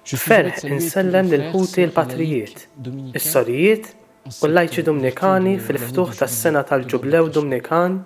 B'ferħ insellem lil ħuti l-patrijiet, is-sorijiet u l-lajċi Dumnikani fil-ftuħ tas-sena tal-Ġublew Dumnikan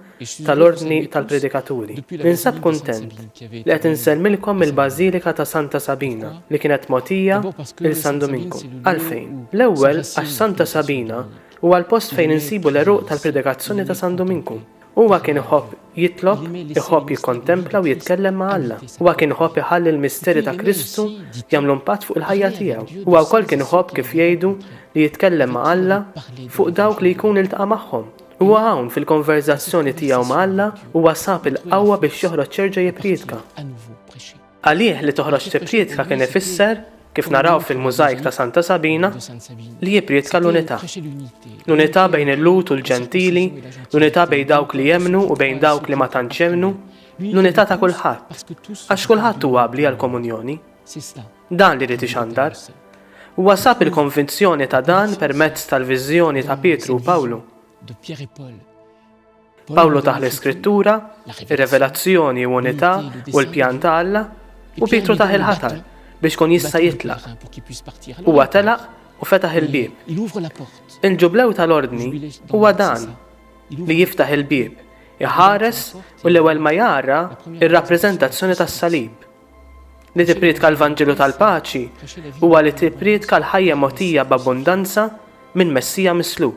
tal-Ordni tal-Predikaturi. Ninsab kuntent li qed insellmilkom mill-Bażilika ta' Santa Sabina li kienet mogħtija lil San Duminku. Għalfejn? L-ewwel għax Santa Sabina huwa l-post fejn insibu l-għeruq tal-predikazzjoni ta' San Duminku. Huwa kien iħobb jitlob, iħobb jikkontempla u jitkellem ma' Alla. Huwa kien iħobb iħalli l-misteri ta' Kristu jagħmlu impatt fuq il-ħajja tiegħu. Huwa wkoll kien iħobb kif jgħidu li jitkellem ma' Alla fuq dawk li jkun iltaqa' magħhom. Huwa hawn fil-konverżazzjoni tiegħu ma' Alla huwa sab il-qawwa biex joħroġ jerġa' jippriedka. Għalih li toħroġ tipprietka kien ifisser, kif naraw fil-mużajk ta' Santa Sabina, li jipprietka l-unità. L-unità bejn il-Lut u l-Ġentili, l-unità bejn dawk li jemnu u bejn dawk li ma tantx jemnu, l-unità ta' kulħadd, għax kulħadd huwa abbli għall-komunjoni. Dan li ried ixandar. Huwa sab il-konvinzjoni ta' dan permezz tal-viżjoni ta' Pietru u Pawlu. Pawlu taħ l-iskrittura, ir-revelazzjoni u unità u l-pjan ta' Alla u Pietru taħ il-ħatar biex kun jista' jitlaq. Huwa telaq u fetaħ il-bieb. Il-ġublew tal-ordni huwa dan li jiftaħ il-bieb, iħares u l-ewwel ma jara ir-rappreżentazzjoni tas-salib. Li tippriedka l-Vanġelu tal-paċi huwa li tippriedka l-ħajja motija b'abbundanza minn Messija mislub.